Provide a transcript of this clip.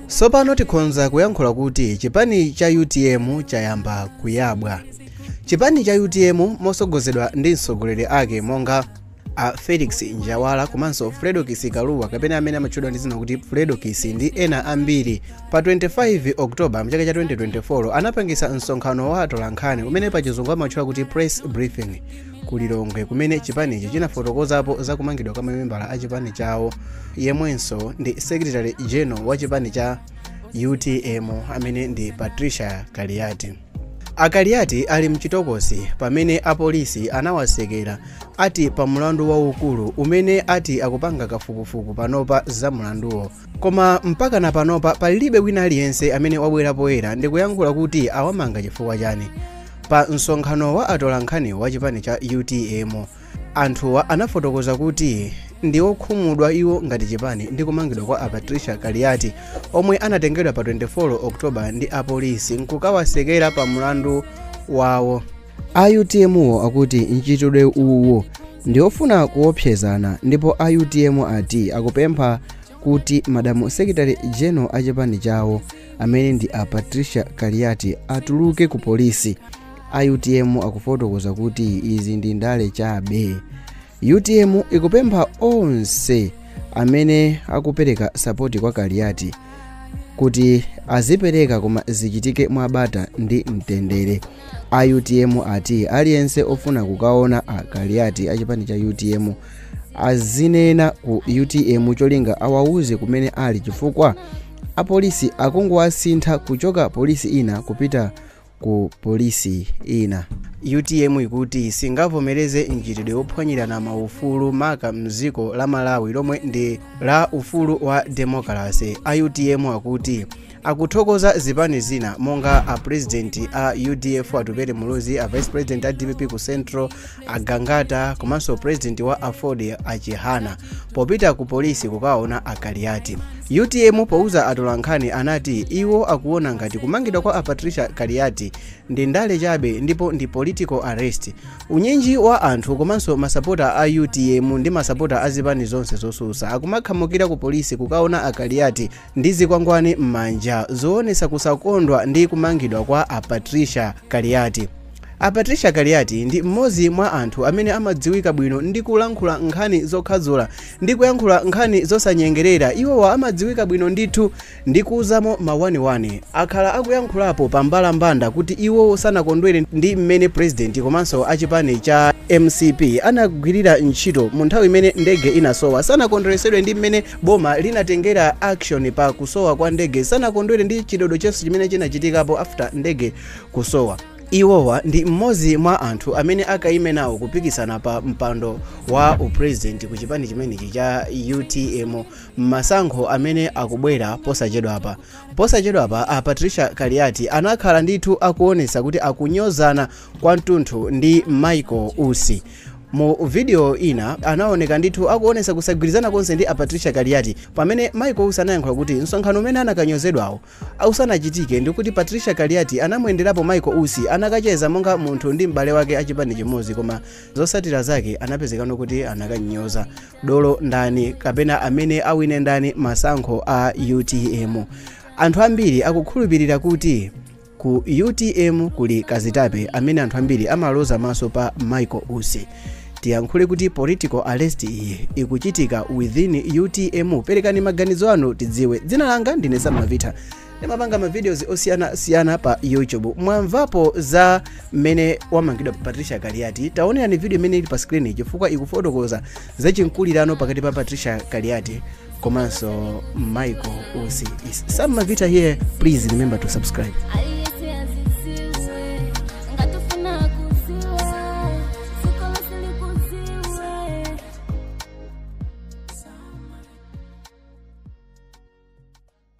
tsopano tikhonza kuyankhula kuti chipani cha utm chayamba kuyabwa chipani cha utm mosogozedwa ndi atsogoleri ake monga a felix njawala komanso fredokiss kalua kapena amene amatchedwa ndi zina kuti fredokiss ndi ena ambiri pa 25 oktoba mchaka cha 2024 anapangisa msonkhano wa atolankhani umene pachizungu amatchula kuti press briefing ku lilongwe kumene chipanichi chinafotokozapo za kumangidwa kwa mamembala a chipani chawo yemwenso ndi secretary general wa chipani cha utm amene ndi patricia kaliati a kaliati ali mchitokosi pamene apolisi anawasekera ati pa mlandu waukulu umene ati akupanga kafukufuku panopa za mlanduwo koma mpaka na panopa palibe wina aliyense amene wabwera poyera ndikuyankhula kuti awamanga chifukwa chani pa msonkhano wa atolankhani wa chipani cha utm anthuwa anafotokoza kuti ndi okhumudwa iwo ngati chipani ndi kumangidwa kwa a patricia kaliati omwe anatengedwa pa 24 oktoba ndi apolisi nkukawasekera pa mlandu wawo A utmwo akuti mchitidwe uwu ndi ofuna kuopsezana ndipo a utm ati akupempha kuti madamu secretary general a chipani chawo amene ndi a patricia kaliati atuluke ku polisi a utm akufotokoza kuti izi ndi ndale chabe utm ikupempha onse amene akupereka sapoti kwa kaliati kuti azipereka koma zichitike mwabata ndi mtendere a utm ati aliyense ofuna kukaona a kaliati a chipani cha utm azinena ku utm cholinga awauze kumene ali chifukwa apolisi akungowasintha kuchoka polisi ina kupita ku polisi ina. Utm ikuti singavomereze mchitidwe wophwanyirana maufulu maka mdziko la Malawi lomwe ndi la ufulu wa demokalase. A utm akuti akuthokoza zipani zina monga a pulezidenti a udf Atupele Muluzi, a vice president a dpp ku Central a Gangata komanso president wa Aford a Chihana popita ku polisi kukaona a Kaliati. UTM pouza atolankhani anati iwo akuona ngati kumangidwa kwa a Patricia Kaliati ndi ndale chabe ndipo ndi political arrest. Unyinji wa anthu komanso masapota a UTM ndi masapota a zipani zonse zosusa akumakhamukira ku polisi kukaona a Kaliati ndi zikwangwani m'manja zoonetsa kusakondwa ndi kumangidwa kwa a patricia kaliati a patricia kaliati ndi mmodzi mwa anthu amene amadziwika bwino ndi kulankhula nkhani zokhadzula ndi kuyankhula nkhani zosanyengerera iwowa amadziwika bwino ndithu ndi kuuzamo mawaniwani akhala akuyankhulapo pa mbalambanda kuti iwowo sanakondwere ndi mmene purezidenti komanso achipani cha mcp anagwirira ntchito mu nthawi imene ndege inasowa sanakondweresedwe ndi mmene boma linatengera action pa kusowa kwa ndege sanakondwere ndi chidodo chonse chimene chinachitikapo after ndege kusowa iwowa ndi mmodzi mwa anthu amene akaime nawo kupikisana pa mpando wa upresident ku chipani chimenechi cha utm mmasankho amene akubwera posachedwapa posachedwapa a patricia kaliati anakhala ndithu akuonesa kuti akunyozana kwa mtunthu ndi michael usi mu video ina anaoneka ndithu akuonesa kusagwirizana konse ndi apatricia kaliati pamene michael usi anayankhula kuti msonkhano umene anakanyozedwawo usanachitike ndikuti patricia kaliati anamuyenderapo michael usi anakacheza monga munthu ndi m'bale wake achipani chimodzi koma zotsatira zake anapezekano kuti anakanyoza dolo ndani kapena amene awine ndani masankho a utm anthu ambiri akukhulupirira kuti Ku utm kuli kazitape amene anthu ambiri amaloza maso pa Michael Usi. Tiyankhule kuti political arrest iyi ikuchitika within utm. Perekani maganizo anu tidziwe. Dzina langa ndine Sam Mavita. Ndimapanga ma videos osiyana siyana pa YouTube. Mwamvapo za mmene wamangidwa Patricia Kaliati. Taonerani video imene ili pa screen chifukwa ikufotokoza za chinkulirano pakati pa patricia kaliati komanso michael usi is sam mavita here please remember to subscribe Aliyesi azisiwe, ngatufuna kuziwa, sikola silikuziwe.